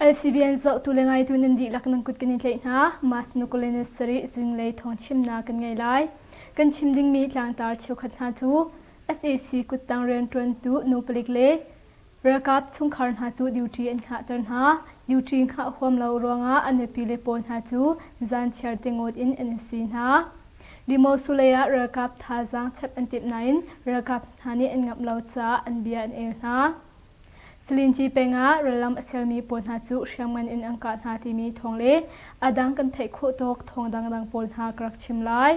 ICBN zohtu le ngaitu nan dihlak nan kut kan i tlaih hna. Mah sinuk kul in sarih zinglei thawngchimnak kan ngei lai. Kan chim dingmi tlangtar cheukhat hna cu SAC kuttang rianṭuantu nu palik le ralkap chungkhar hna cu duty an hngahter hna. Duty ngah huam lo ruangah a nupi le pawl hna cu zan chiar te ngawt in an si hna. Dimawsulei ah ralkap thazaang chep an timh nain ralkap hna nih an ngamh lo caah an bia an el hna. Salinci peng ah rallam a sermi pawl hna cu hriamngan in an kah hna timi thawng le a dang kan theih khawh tawk thawng dangdang pawl hna ka rak chim lai.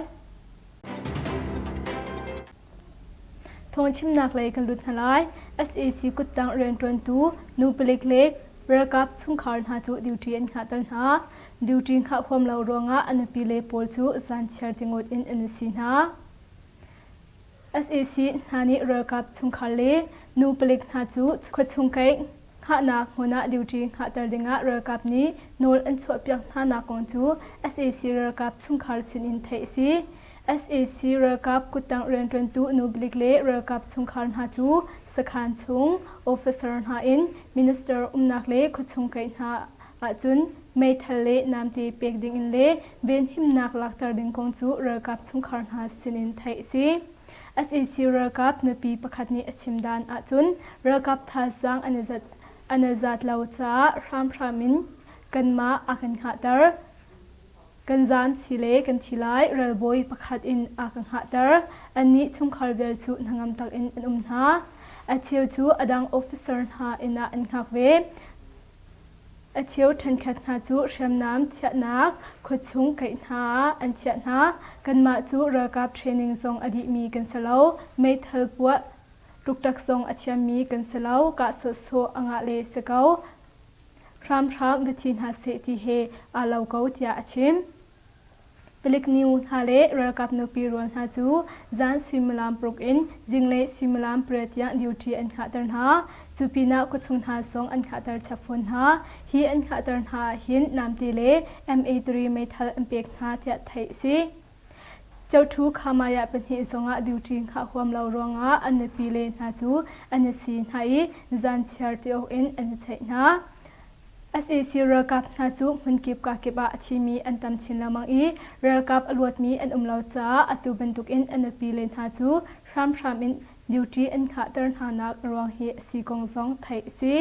Thawngchimnak lei kan lut hna lai. SAC kuttang rianṭuantu nu palik le ralkap chungkhar hna cu duty an hngahter hna. Duty hngah huam lo ruangah a nupile pawl cu zanchiar tingut in an si hna. SAC hna nih ralkap chungkhar le nu palik hna cu khuachung kei hngahnak hmun ah duty hngahter dingah ralkap nih nawl an chuahpiak hnanak kong cu SAC ralkap chungkhar sinin theih a si. sac ralkap kuttangh rianṭuantu nu balik le ralkap chungkhar hna cu sakhaan chung officer hna in minister umnak le khuachung kaih hna ahcun meithal le namte pek dingin le venhimnak lakter ding kong cu ralkap chungkhar hna sinin theih a si. sac ralkap nupi pakhat nih a chimdan ahcun ralkap thazaang an i zat lo caah hramhram in kanmah a kan hngahter. Kan zan si le kan thi lai ralbawi pakhat in a ka hngahter. Annih chungkhar vial cu hnangam takin an um hna. A cheu cu a dang officer hna inn ah an hngak ve. A cheu ṭhenkhat hna cu hriamnam chiahnak khuachung kaih hna ah an chiah hna. Kanmah cu ralkap training zong a dihmi kan si lo. Meithal puah, tuktak zong a thiammi kan si lo. Kah sawhsawh a ngah le si ko. hramhram va thi hna seh ti he aa lo ko tiah a chim. Palik nu hna le ralkap nupi rual hna cu zan suimilam paruk in zinglei suimilam pariat tiang duty an khahter hna. Cu pinah khuachung hna zong an khahter chap fawn hna. Hi an khahter hna ah hin Namte le MA3 meithal an pek hna tiah theih a si. Cothu Khamaya pahnih zongah duty ngah huam lo ruangah an nupile hna cu an i si hna i zan chiar ti awk in an i check hna. SAC ralkap hna cu hmunkip kakip ah a thimi an tam chin lengmang i ralkap a luatmi an um lo caah atu bantukin a nupile hna cu hramhram in duty an khahter hnanak a ruang hi a si kong zong theih a si.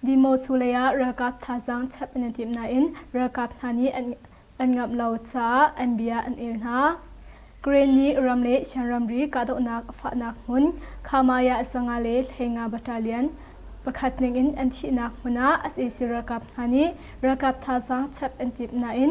Dimocu leiah ralkap thazaang chap an i timh nain ralkap hna nih an ngamh lo caah an bia an el hna. Ukraine nih ram le Shan ramri kahdohnak a fahnak hmun Khamaya Sanga le Hleinga battalion pakhat ningin an thihnak hmun ah sac ralkap hna nih ralkap thazaang chap an timh nain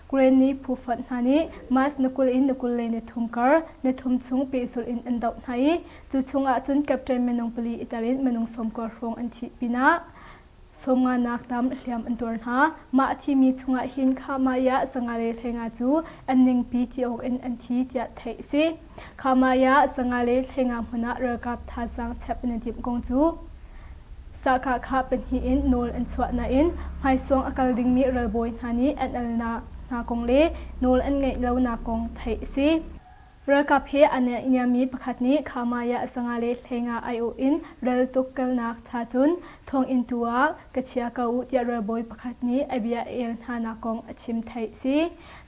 Grain nih phufonh hna nih March ni kul in ni kul lei nithum kar, nithum chung pehzulh in an doh hna i cu chungah cun Captain minung pali i tel in minung sawmkua hrawng an thih pinah sawmnganak tam hliam an tuar hna. Mah a thimi chungah hin Khah Mai ah sanga le hleinga cu an ningpi ti awk in an thi tiah theih a si. Khamai ah sanga le thlengah hmun ah ralkap thazaang chep na dimh kong cu sahka kha pahnih in nawl an chuah nain hmaisawng a kal dingmi ralbawi hna nih an alnak hna kong le nawl an ngeih lonak kong theih a si. Ralkap he aa niammi pakhat nih Khamai ah sanga le hlengah aiawh in ral tukkelnak cha cun thawnginn tu ah ka chia ko u tiah ralbawi pakhat nih a bia a el hnanak kong a chim theih a si.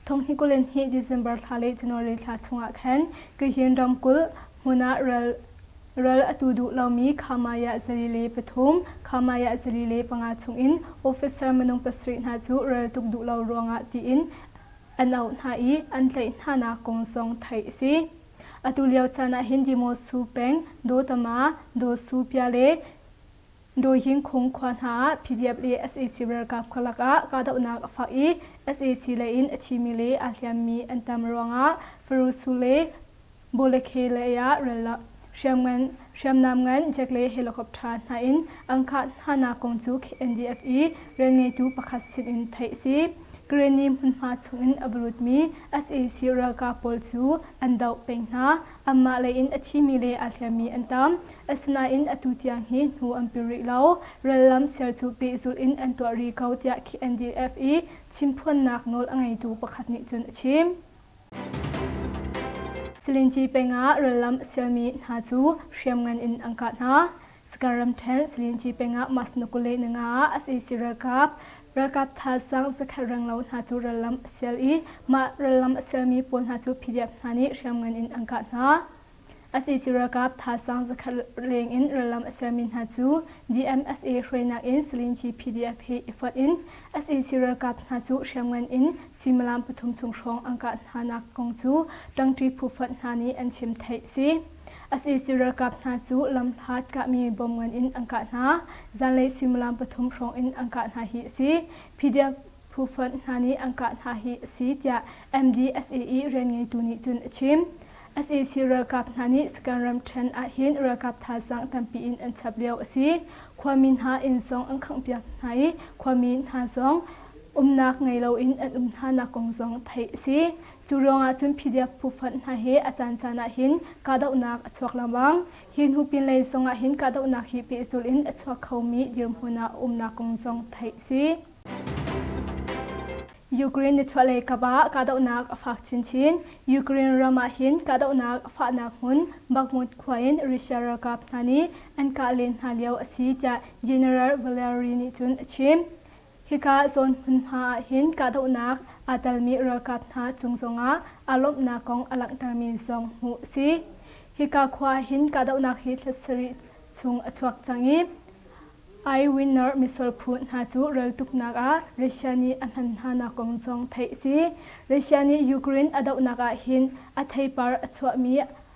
Thonghikulen hi December thla le January thla chungah khan Kyihin ramkulh hmun ah ral ral a tu duh lomi Khamaya zali le pathum, Khamaya zali le panga chungin officer minung pasarih hna cu raltuk duh lo ruangah tiin an auh hna i an tlaih hnanak kong zong theih a si. Atu lio caan ah hin Dimosu peng, Dotama, Dosu pia le Dawhing khung khua hna ah PDF le sac ralkap khalak ah kahdohnak a fak i sac lei in a thimi le aa hliammi an tam ruangah Farusu le Bolekhe lei ah ralak hriamnam ngan jet le helicopter hna in an kah hnanak kong cu KNDF i rianngeitu pakhat sinin theih a si. Kareni hmunhma chungin a va lutmi sac ralkap pawl cu an doh peng hna. Amah lei in a thimi le aa hliammi an tam. Asinain atu tiang hi hnu an pil rih lo. Rallam ser cu pehzulh in an tuah rih ko tiah KNDF i chimphuannak nawl a ngeitu pakhat nih cun a chim. Silinci peng ah rallam a sermi hna cu hriamngan in an kah hna. Sgar ramṭhen Salinci peng ah mas na kule nanga ah sac ralkap ralkap thaasang zakhat renglo hna cu rallam a sial i mah rallam a sialmi pawl hna cu PDF hna nih hriamngan in an kah hna. sac ralkap thaasang zakhat leng in rallam a sialmi hna cu DMSA hruainak in Salinci PDF he i fonh in sac ralkap hna cu hriamngan in suimilam pathum chung hrawng an kah hnanak kong cu ṭangṭi phu fonh hna nih an chim theih a si. Asisi ralkap hna cu lamhlat kahmi bom ngan in an kah hna. Zanlei suimilam pathum hrawng in an kah hna hi a si. PDF phu fund hna nih an kah hna hi a si tiah MDSAE rianngeitu nih cun a chim. SAC ralkap hna nih Saka'n ramṭhen ahhin ralkap thazaang tampi in an chap lio a si. Khuami hna inn zong an khanghpiak hna i khuami hna zong umnak ngei loin an um hnanak kong zong theih a si. Cu ruangah cun PDF phufonh hna hi a caancaan ah hin kahdohnak a chuak lengmang. Hi hnu pinlei zong ah hin kahdohnak hi pehzul in a chuak khomi dirhmun ah a umnak kong zong theih a si. Ukraine nichuahlei kap ah kahdohnak a fak chinchin. Ukraine ram ah hin kahdohnak a fahnak hmun Bakhmut khua in Russia ralkap hna nih an kah len hna lio a si tiah General Valeri nih cun a chim. Hika zawn hmunhma ah hin kahdohnak aa telmi ralkap hna cung zongah aa lawmhnak kong a langhtermi zong hmuh a si. Hika khua ah hin kahdohnak hi thla sarih chung a chuak cang i, eyewinner misual phu hna cu reltuknak ah Russia nih a hman hnanak kong zong theih a si. Russia nih Ukraine a dohnak ah hin a theipar a chuahmi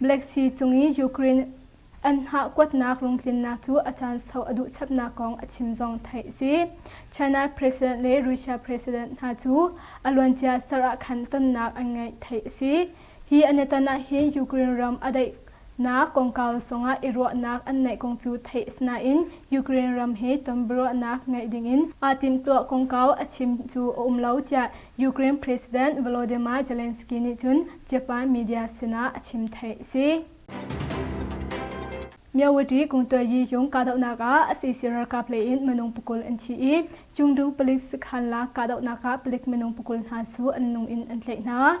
Black Sea cung i Ukraine an hnah kuatnak lungtlinnak cu a caan sau a duh chapnak kong a chim zong theih a si. China President le Russia President hna cu a luancia ser ah khan tonnak an ngeih theih a si. Hi an i ton ahhin Ukraine ram a daihnak kongkau sawngah i ruahnak an neih kong cu theih a si nain Ukraine ram he ton biaruahnak ngeih dingin aa timhtuah kongkau a chim cu a um lo tiah Ukraine President Volodymyr Zelensky nih cun Japan media sinah a chim theih a si. Myawaty kungtayi yung kahdohnak ah a sisi ralkap lei in minung pukul an thi i Chungdu palik sakhan la kahdohnak ah palik minung pukul hna su an nung in an tlaih hna.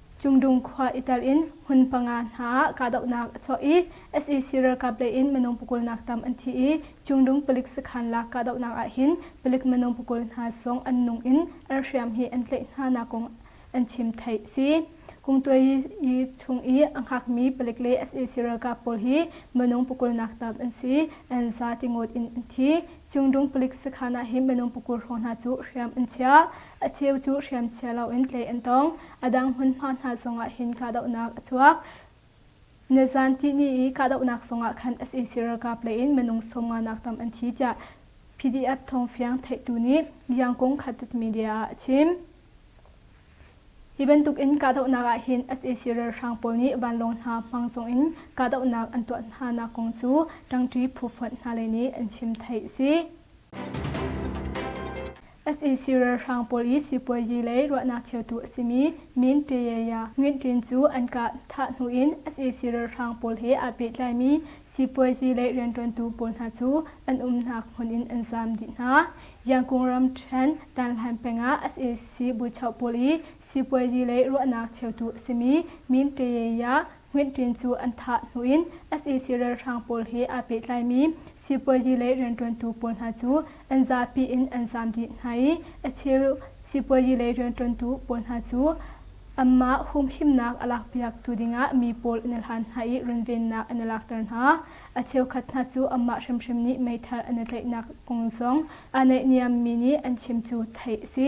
Cungdung khua i tel in hmun panga hna ah kahdohnak a chuah i sac ralkap lei in minung pakulnak tam an thi i Cungdung palik sakhan lak kahdohnak ahhin palik minung pakul hna zong an nung in an hriam hi an tlaih hnanak kong an chim theih a si. Kungtuayi chung i a hngakmi palik le sac ralkap pawl hi minung pakulnak tam an si an za tingot in an thi. Cungdung palik sakhan ah hi minung pakul hrawng hna cu hriam an chiah. A cheu cu hriamchia loin tlaih an tong. A dang hmunhma hna zongah hin kahdohnak a chuak. Nizanti ni i kahdohnak zongah khan sac ralkap lei in minung sawmnganak tam an thi tiah PDF thawngfiang theihtu nih Liangkung Khatet Media ah a chim. Hi bantukin kahdohnak ah hin sac ralhrang pawl nih vanlawng hna hmang zongin kahdohnak an tuah hnanak kong cu ṭangṭi phu fonh hna lei nih an chim theih a si. sac ralhrang pawl i sipuazi lei ruahnak cheutu a simi Min Tae-ya Ngunt Tin cu an kah thah hnu in sac ralhrang pawl he aa pehtlaimi sipuazi lei rianṭuantu pawl hna cu an umnak hmun in an zaam dih hna. Yangkung ram ṭhen Tanhlan peng ah sac buchoh pawl i sipuazi lei ruahnak cheutu a simi Min Tae-ya Hmuittlin cu an thah hnu in sac ralhrang pawl he aa pehtlaimi sipuazi lei rianṭuantu pawl hna cu an zapi in an zaam dih hna i a cheu sipuazi lei rianṭuantu pawl hna cu anmah humhimnak a lakpiaktu dingah mi pawl an i hlan hna i runvennak an i lakter hna. A cheukhat hna cu anmah hrimhrim nih meithal an i tlaihnak kong zong aa naihniammi nih an chim cu theih a si.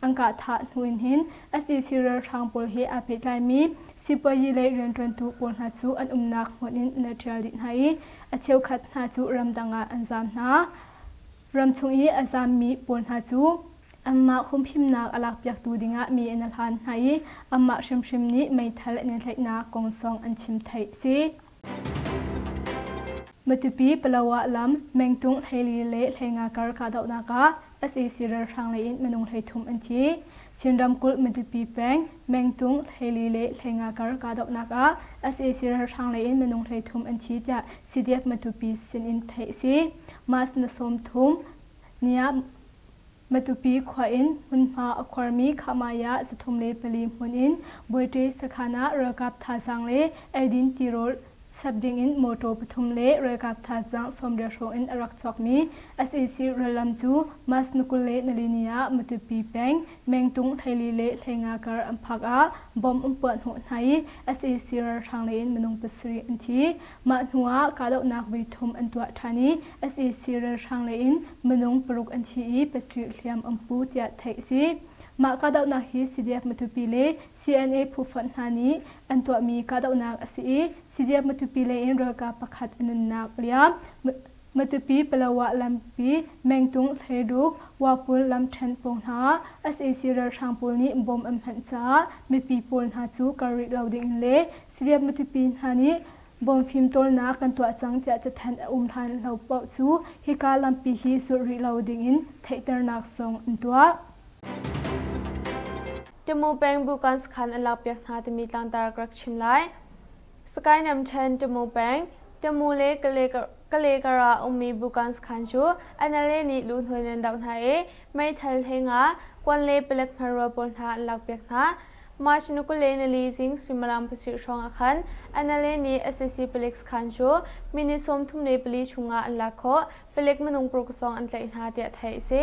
An kahthah hnu in hin sac ralhrang pawl he aa pehtlaimi sipuazi lei rianṭuantu pawl hna cu an umnak hmun in an rak ṭial dih hna i a cheukhat hna cu ramdang ah an zaam hna. Ram chung i a zaammi pawl hna cu anmah humhimnak a lakpiaktu dingah mi an hlan hna i anmah hrimhrim nih meithal an in tlaihnak kong zong an chim theih a si. Matupi Palawa lam mengtung hlei le hleinga kar kahdohnak ah sac ralhrang lei in minung hleithum an thi. Chin ramkulh Matupi peng mengtung hlei le hleinga kar kahdohnak ah sac ralhrang lei in minung hleithum an thi tiah CDF Matupi sin in theih a si. Mas na sawm thum, Nia Matupi khua in hmunhma a khuarmi Khahmaya zathum le pali hmun in Buaṭe sakhan ah ralkap thazaang le eidin tirawl chap ding in mawṭaw pathum le ralkap thazaang sawmriah hrawng in a rak chuakmi sac rallam cu Mas ni kul le nalini ah Matupi peng Mengtung Theili le Hleinga kar an phak ah bomb an puah hnawh hna i sac ralhrang lei in minung pasarih an thi. Mah hnuah kahdohnak voi thum an tuah ṭhan i sac ralhrang lei in minung paruk an thi i pasarih hliam an pu tiah theih a si. Mah kahdohnak hi CDF-Matupi le CNA phufonh hna nih an tuahmi kahdohnak a si i CDF-Matupi lei in ralkap pakhat a nunnak a liam. Matupi-Palawa lampi, Mengtung, Hleiruk, Wapul lamṭhen pawng hna ah sac ralhrang pawl nih bom an hmanh caah mipi pawl hna cu kal rih lo ding in le Salian Matupi hna nih bawm fimtawlnak kan tuah cang tiah cathanh a um hlan lo paoh cu hika lampi hi zulh rih lo dingin theihternak zong an tuah. Timu peng bukan sakhan an lakpiak hna timi tlangtar ka rak chim lai. Sakainam Chan Timu peng, Timu le Kale Kalekar ah a ummi Bukans khan cu NLA nih luhnawi nan doh hna i meithal he nga, kuan le palek hmarua pawl hna an lakpiak hna. March ni kul le nili zing suimilam pasarih hrawng ah khan NLA nih sac paleks khan cu minute sawmthum le pali chung ah an lak khawh, palek minung paruk zong an tlaih hna tiah theih a si.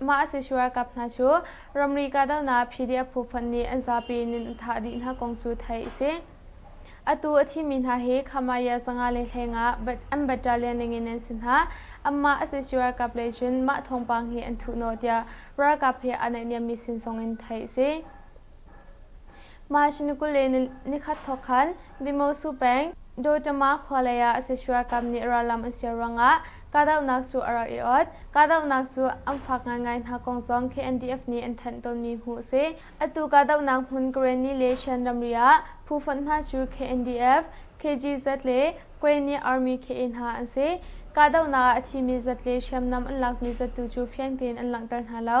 Mah a si shu ralkap hna cu ramri kahdohnak PDF phu fonh nih an zapi nun a thah dih hna kong cu theih a si. Atu a thimi hna hi Khamaya zanga le hleng ah an battalion ningin an si hna. Anmah a si shu ralkap lei cun mah thawngpang hi an thuh nawh tiah ralkap he aa naihniammi sin zongin theih a si. March ni kul le nikhat thawk khan Vimosu peng Dotama khua lei ah Seshuakam nih rallam an siar ruangah kahdohnak cu a rak i ot. Kahdohnak cu an fak ngaingai hna kong zong KNDF nih an thanh tawnmi hmuh a si. Atu kahdohnak hmun Karenni le Shan ramri ah phu fonh hna cu KNDF, KGZ le Karenni Army KA hna an si. Kahdohnak ah a thimi zat le hriamnam an lakmi zat tu cu fiang tein an langhter hna lo.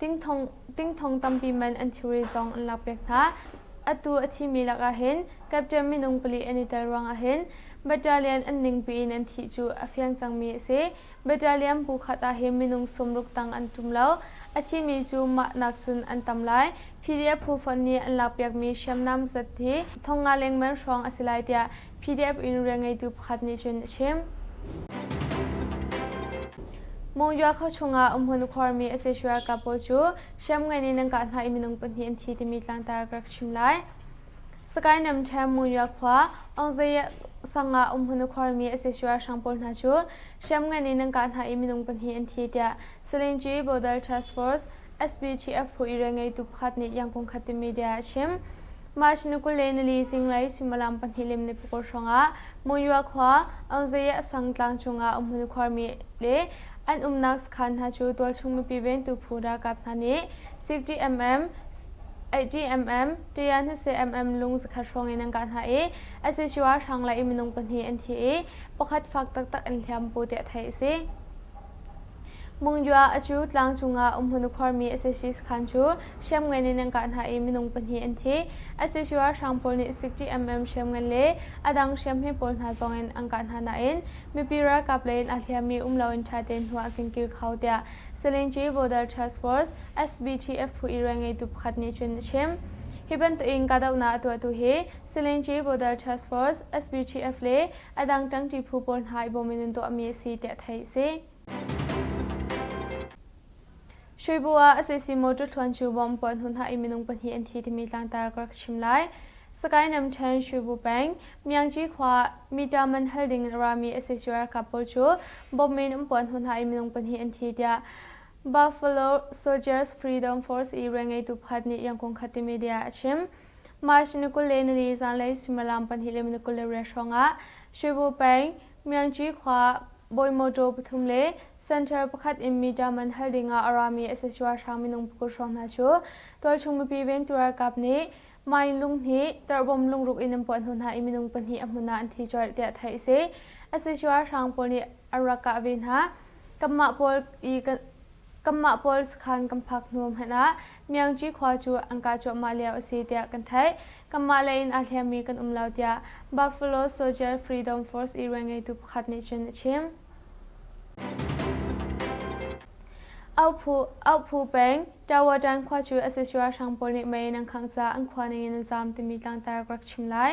Tingthong tingthong tampi man an thilri zong an lak piak hna. Atu a thimi lakah hin Captain minung pali an i tel ruangah hin Battalion an ning piin an thih cu a fiang cangmi a si. Battalion bu khat ah hin minung sawmruk tang an ṭum lo. A thimi cu mah nakcun an tam lai. PDF phu fonh nih an lak piakmi hriamnam zat hi thong nga lengman hrawng a si lai tiah PDF in rian ngeitu pakhat nih cun a chim. Mongyua khua chungah um hun khuarmi SH ralkap pawl cu hriamngan in an kah hna i minung pahnih an thi timi tlangtar ka rak chim lai. Sakae Namchain Mongyua khua Ongzae sangah um hun khuarmi SH ralhrang pawl hna cu hriamngan in an kah hna i minung pahnih an thi tiah Salinji Border Task Force SBTF phu i rian ngeitu pakhat nih yangkung khat timi bia a chim. March ni kul le nili zinglei suimilam pahnih lim ni pukul hrangah Monywa khua Auzaye Asang tlang chungah um hmun khuarmi le an umnak sakhan hna cu tualchung mipi ventu phu ralkap hna nih 60mm, 80mm, ṭian 20mm lung zakhat hrawng in an kah hna i a sicuar hrang le minung pahnih an thi i pakhat fak taktak an hliam bu tiah theih a si. Mungyua a cu tlang cungah um hun khuarmi asasi sakhan cu hriamngan in an kah hna i minung pahnih an thi. Asasi ralhrang pawl nih sik TMM hriamngan le a dang hriamhme pawl hna zongin an kah hna nain mipi ralkap lei in aa hliammi um loin ṭhatein hnu ah a kinkir kho tiah Selinji Border Task Force SBTF phu i rianngeitu pakhat nih cun a chim. Hi bantukin kahdohnak a tuahtu hi Selinji Border Task Force SBTF le a dang ṭangṭi phu pawl hna i bawm in an tuahmi a si tiah theih a si. Shuibu ah a sisi motor thluan cu bom puah hnu hna i minung pahnih an thi timi tlangtar ka rak chim lai. Sakae Namthen Shuibu peng Myangci khua mita man hal ding in a rami SSU ralkap pawl cu bomb in um puah hnu hna i minung pahnih an thi tiah Buffalo Soldiers Freedom Force i rian ngeitu pakhat nih Yangkung khat timi dia a chim. March ni kul le nili zanlei suimilam pahnih le minute kul le riat hrawngah Shuibu peng Myangci khua bawi mawṭaw pathum le center pakhat in mi ṭaman hal dingah a rami SSUR hrang minung pakul hrawng hna cu tualchung mipi ventu ralkap nih mine lung hnih tarhbom lungruk in an puah hnu hna i minung pahnih a hmun ah an thi colh tiah theih a si. SSUR hrang pawl nih a rak kah ve hna. Kanmah pawl i kan Kanmah pawl sakhan kan phak hnu hmanh ah Myangci khua cu an kah cuahmah lio a si tiah kan theih. Kanmah lei in aa hliammi kan um lo tiah Buffalo Soldier Freedom Force iruai ngeitu pakhat nih cun a chim. Auhphu peng Tawadan khua cu a sac ralhrang pawl nih mei in an khangh caah an khua ning in a zaam timi tlangtar ka rak chim lai.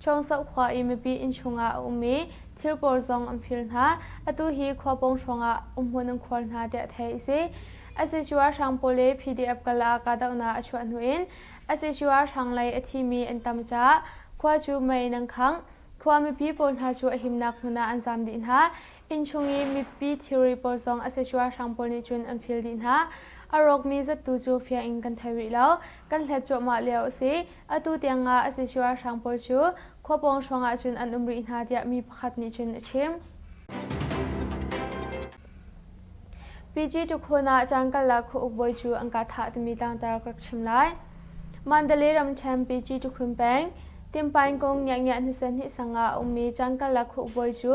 Chawngsoh khua i mipi inn chungah a um i thil pawl zong an phil hna. Atu hi khua pawng hrawngah umhmun an khuar hna tiah theih a si. Asicu ah hrang pawl le PDF kal ah kahdohnak a chuah hnu in asicu ah hranglei a thimi an tam caah khua cu mei in an khangh. Khua mipi pawl hna cu a himnak hmun ah an zam dih hna. Inn chung i mipi thilri pawl zong a sicuahrang pawl nih cun an feel dih hna. A rawkmi zattu cu fiang in kan thei rih lo. Kan hlet cuahmah lio a si. Atu tiangah a sicuahrang pawl cu khua pawng hrawngah cun an um rih hna tiah mi pakhat nih cun a chim. Pyi Tukhun ah caan karlak khuauk bawi cu an ka thah timi tlangtar ka rak chim lai. Mandalay ramṭhen Pyi Tukhun peng, Timpaing kong Ngiah Ngiah hnisa hnih sang ah a ummi caan karlak khuauk bawi cu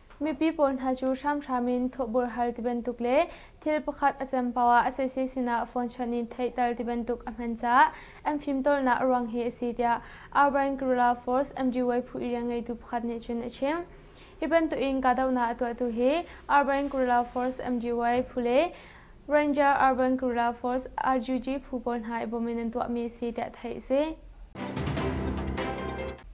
Mipi pawl hna cu hramhram in thawhbur hal tibantuk le thil pakhat a cem poah a sese sinah phone chawnh in theihter tibantuk a hman caah an fimtawlnak a ruang hi a si tiah Albain Guerrilla Force MGY phu irian ngeitu pakhat nih cun a chim. Hi bantukin kahdohnak a tuahtu hi Albain Guerrilla Force MGY phu le Ranger Urban Guerrilla Force RGG phu pawl hna i bawm in an tuahmi a si tiah theih a si.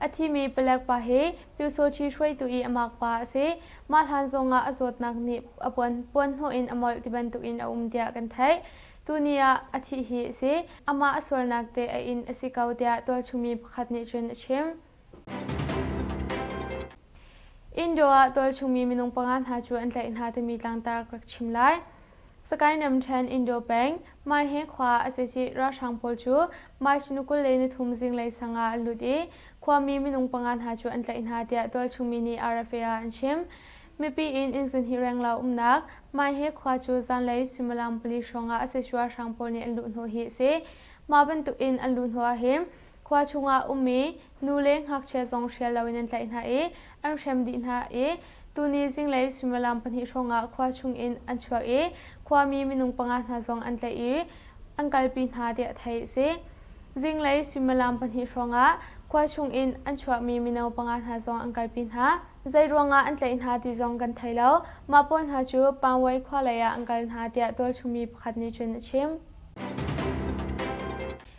A thimi palek pa hi Pyu Sochi hruaitu i a mak pa a si. Mah hlan zongah a zawtnak nih a puanhnawh in a molh tibantukin a um tiah kan theih. Tuni ah a thih hi a si. Amah a sualnak teh a inn a si ko tiah tualchumi pakhat nih cun a chim. Indo ah tualchungmi minung panga hna cu an tlaih hna timi tlangtar ka rak chim lai. Sakae Namthen Indo peng Maihe khua asici ralhrang pawl cu maishinu kul le nithum zinglei sang ah an lut i khuami minung panga hna cu an tlaih hna tiah tualchungmi nih RFA ah an chim. Mipi in innzun hi renglo umnak Maihe khua cu zanlei suimilam pali hrawng ah asici ralhrang pawl nih an luh hnawh hi a si. Mah bantuk in an luh hnawh ahhin Khua chungah um mi nu le ngakchia zong hrial loin an tlaih hna i an hrem dih hna i tuni zinglei suimilam pahnih hrawngah khua chung in an chuak i khuami minung panga hna zong an tlaih i an kalpi hna tiah theih a si. Zinglei suimilam pahnih hrawngah khua chung in an chuah mi mino panga hna zong an kalpi hna. Zei ruangah an tlaih hna ti zong kan thei lo. Mah pawl hna cu Pangwei khua leiah an kal hna tiah tualchung mi pakhat nih cun a chim.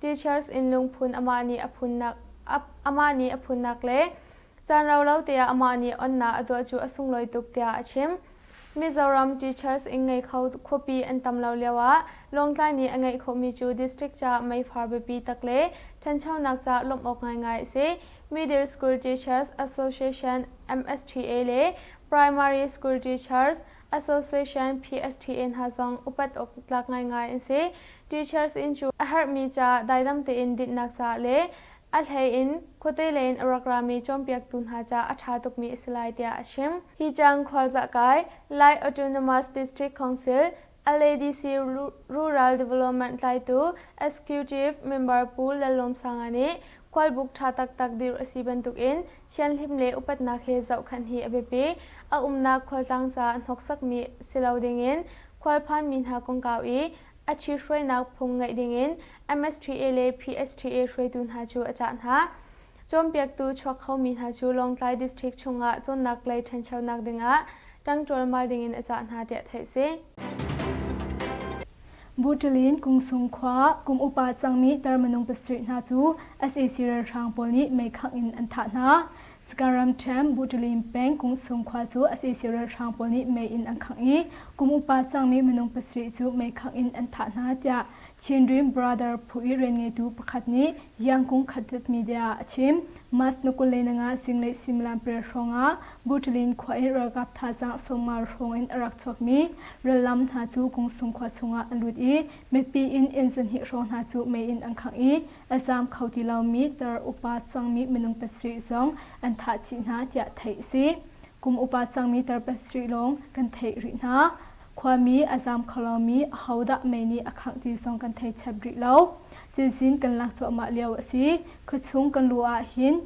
Teachers inn lungphun amah nih a phunnak amah nih a phunnak le caan rau lo te ah amah nih onnak a tuah cu a sunglawi tuk tiah a chim. Mizoram Teachers inn ngei kho khuapi an tam lo lio ah Lawngtlai nih a ngeih khawhmi cu district ca meifar biapi tak le ṭhanchonak ca lawmh awk ngaingai a si. Middle School Teachers Association, MSTA, le Primary School Teachers, Association PSTA hna zong upat awk tlak ngaingai an si. Teachers in cu a herhmi ca daidam tein dinhnak ca le a hlei in khuate lei in a rak rami cawnpiaktu hna ca a ṭha tukmi a si lai tiah a chim. Hi cang khualzah kai Lai Autonomous District Council, LADC, Rural Development tlaitu Excutive Member Pu Lallawmsanga nih khualbuk ṭha taktak dirh a si bantukin Thianhlim le upatnak he zohkhanh hi a biapi. A umnak khualtlang ca a hnoksakmi si lo dingin khualphanmi hna kongkau i a ṭhithruainak phung ngeih dingin MSTA le PSTA hruaitu hna cu a cah hna. Cawnpiaktu chuak khomi hna cu Lawngtlai District chungah cawnnak lei ṭhanchonak dingah ṭang ṭualmal dingin a cah hna tiah theih si. Buṭilin Kungsung khua kum upa cangmi tar minung pasarih hna cu sac ralhrang pawl nih meikhangh in an thah hna. Sakaramthem Buṭilin peng Kungsung khua cu sac ralhrang pawl nih mei in an khangh i kum upa cangmi minung pasarih cu meikhangh in an thah hna tiah Chinrim Brother phu i rian ngeitu pakhat nih Yangkung khatlet media a chim. March na kul le nanga zinglei suimilam pariat hrawng ah Buṭlin khua in ralkap thazaang sawmngal hrawng in a rak chuakmi rallam hna cu Kungsung khua chungah an lut i mipi in inn zahnih hrawng hna cu mei in an khangh i a zaam kho ti lomi tar upa cangmi minung pasarih zong an thah chih hna tiah theih a si. Kum upa cangmi tar pasarih lawng kan theih rih hna. Khuami a zaam kho lomi ahodah mei nih a khangh ti zong kan thei chep rih lo. Cinsin kan lak cuahmah lio a si. Khuachung kan luh ahhin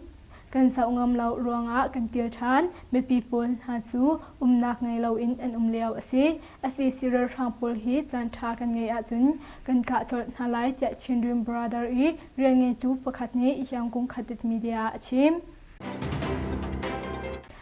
kan zoh ngam lo ruangah kan kir ṭhan. Mipi pawl hna cu umnak ngei loin an um lio a si. Sac ralhrang pawl hi caan ṭha kan ngeih ahcun kan kah colh hna lai tiah Chinrim Brother i rianngeitu pakhat nih Yangon Khatit Media a chim.